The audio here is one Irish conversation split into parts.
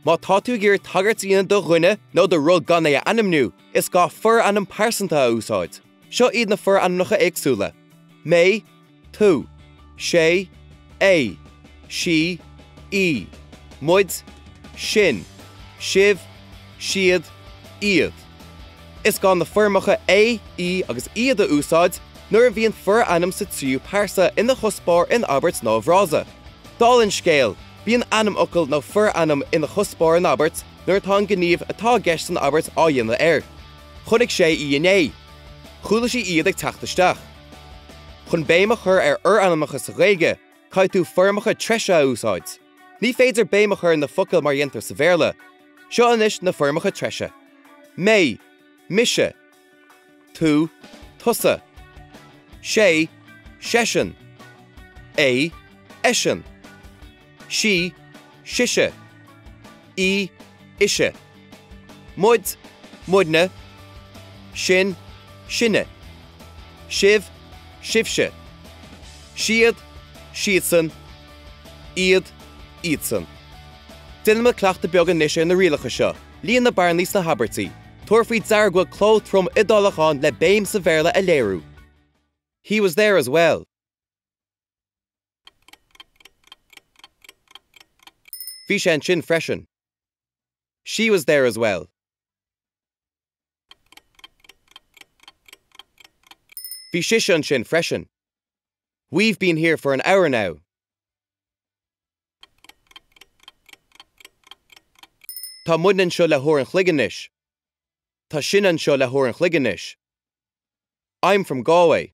Má tá tú ag iarraidh tagairt a dhéanamh do dhuine nó do rud gan é a ainmniú, is gá forainm pearsanta a úsáid. Seo iad na forainmneacha éagsúla, mé, tú, sé, é, sí, í, muid, sinn, sibh, siad, iad. Is gá na foirmeacha é, í agus iad a úsáid nuair a bhíonn forainm sa tríú pearsa ina chuspóir in abairt nó i bhfrása. Dála an scéil, bíonn ainmfhocal nó forainm ina chuspóir in abairt nuair atá an gníomh atá i gceist san abairt á dhéanamh air. Chonaic sé í inné. Chuala sí iad ag teacht isteach. Chun béim a chur ar fhorainmneacha sa Ghaeilge, caithfidh tú foirmeacha treise a úsáid. Ní féidir béim a chur ar na focail mar a dhéantar sa Bhéarla. Seo anois na foirmeacha treise. mé, mise, tú, tusa, sé, seisean, é, eisean. sí, sise, í, ise, muid, muidne, sinn, sinne, sibh, sibhse, siad, siadsan, iad, iadsan. Déanaimis cleachtadh beag anois ar na rialacha seo, líon na bearnaí sna habairtí, tabhair faoi deara go bhfuil cló trom Iodálach ann le béim sa Bhéarla a léiriú! He was there as well. Bhí sé ansin freisin. She was there as well. Bhí sise ansin freisin. We've been here for an hour now. Tá muid anseo le huair an chloig anois. Tá sinn anseo le huair an chloig anois. I'm from Galway.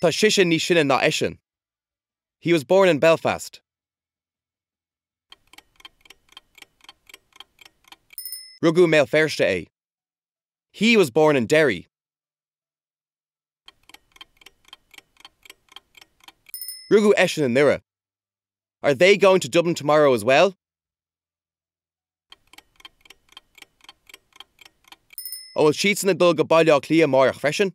Tá sise níos sine ná eisean. He was born in Belfast. Rugadh i mBéal Feirste é. He was born in Derry. Rugadh eisean i nDoire. Are they going to Dublin tomorrow as well? An bhfuil siadsan ag dul go Baile Átha Cliath amárach freisin?